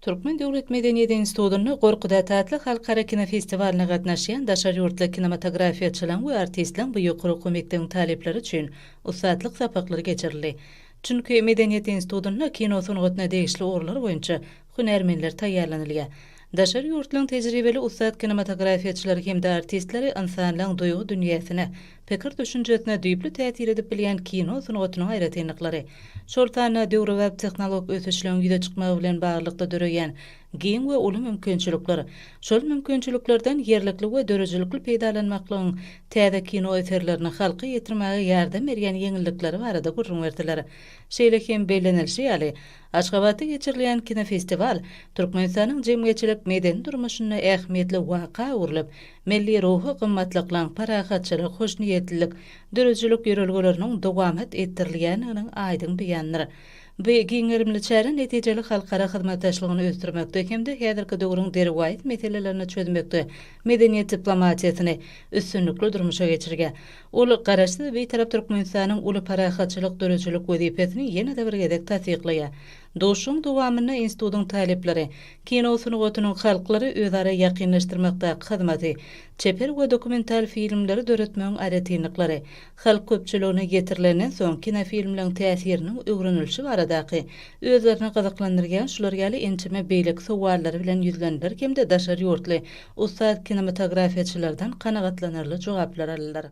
Türkmen döwlet medeniýet institutynda Gorkudat atly halkara kinofestiwalyna gatnaşýan daşary ýurtly kinematografiýaçylaryň we artistleriň bu ýokary okuw mekdebiň talyplary üçin ussatlyk sapaklary geçirildi. Çünki Medeniýet institutynda kino sungatyna degişli ugurlar boýunça hünärmenler taýýarlanylýar. Daşary ýurtlaryň tejribeli ussat kinematografiýaçylary hem-de artistleri ynsanlaryň duýgy dünýäsine, Pikir düşünjesine düýpli täsir edip bilýän kino sungatynyň aýratynlyklary, şol sanda döwrebap tehnolog ösüşleriň ýüze çykmagy bilen baglylykda döreýän giň we uly mümkinçilikler, şol mümkinçiliklerden ýerlikli we döredijilikli peýdalanmaklygyň täze kino eserlerini halka ýetirmäge ýardam berýän ýeňillikleri barada gürrüň berdiler. Şeýle hem bellenilişi ýaly, Aşgabatda geçirilýän kinofestiwal Türkmenistanyň jemgyýetçilik-medeni durmuşynda ähmiýetli waka öwrülip, Milli ruhy gymmatlyklaň, parahatçylyk, hoşniýetlilik, döredijilik ýörelgeleriniň dowamat etdirilýändiginiň aýdyň beýanydyr. Bu giň gerimli çäre netijeli halkara hyzmatdaşlygyny ösdürmekde hem-de häzirki döwrüň derwaýys meselelerini çözmekde medeniýet diplomatiýasyny üstünlikli durmuşa geçirýär. Ol Garaşsyz, Bitarap Türkmenistanyň uly parahatçylyk döredijilik wezipesini ýene-de bir gezek tassyklaýar. Duşuşygyň dowamynda institutyň talyplary Kino sungatynyň halklary özara ýakynlaşdyrmakdaky hyzmaty, çeper we dokumental filmleri döretmegiň aýratynlyklary, halk köpçüligine ýetirilenden soň kinofilmleriň täsiriniň öwrenilişi baradaky özlerini gyzyklandyrýan şular ýaly ençeme beýleki sowallary bilen ýüzlendiler hem-de daşary ýurtly ussat kinematografiýaçylardan kanagatlanarly jogaplar aldylar.